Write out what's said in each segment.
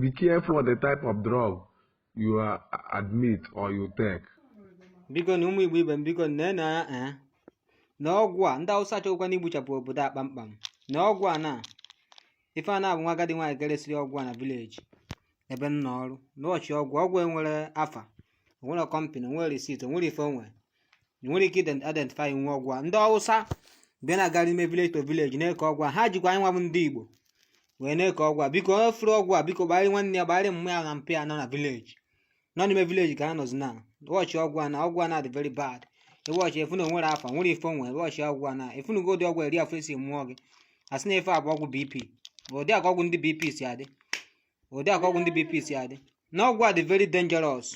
be careful the type of drug you admit or you take. bikonụ ụmụ igbo ibe m bikonụ nene eh, na ọgwụ a ndị awụsa achọkwana igbuchapụ obodo a kpamkpam na ọgwụ a na ife a na-abụ nwa agadi nwaanyị ka e resịrị ọgwụ a na village ebe m nọ ọrụ na ị watch ọgwụ a ọgwụ a enwerọ afa o nwerọ company o nwerọ receipt o nwerọ ife onwe ị nwere ike ident- identify nwe ọgwụ a ndị awụsa bịa na-agara ime village to village na-eke ọgwụ a ha jikwa anyị nwa bụ ndị igbo wee na-eke ọgwụ a biko onye fụrụ ọgwụ a biko gbagharị nwanne ya gbagharị mma ya na mpa ya nọ na village nọ n'ime village ka ha nọzi na watch ọgwụ a na ọgwụ a na-adị very bad ị watch ị fụ na o nwerọ afa nwerọ ife o nwe watch ọgwụ a na a fụnugo ụdị ọgwụ eri afọ esi mmụọ gị asị na ife a bụ ọgwụ bp ụdị aka ọgwụ ndị bp si adị ụdị aka ọgwụ ndị bp si adị na ọgwụ a dị very dangerous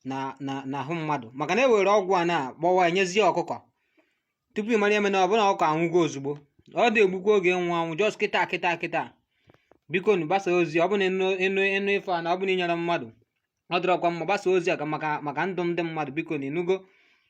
na na n'ahụ mmadụ maka na e were ọgwụ a na-agbawa enyezie ọkụkọ tupu ị mara ife emenụ ọ bụ na ọkụkọ anwụgo ozugbo ọ da egbukwa oge nwụ anwụ just kịta kịta kịta bikonụ gbasa ozi ọ bụ na ị nụ ị nụ ị nụ ife a na ọ bụ na i nyerọ mmadụ ọ dịrọkwa mma gbasa ozi a ka maka maka ndụ ndị mmadụ bikonụ ị nụgo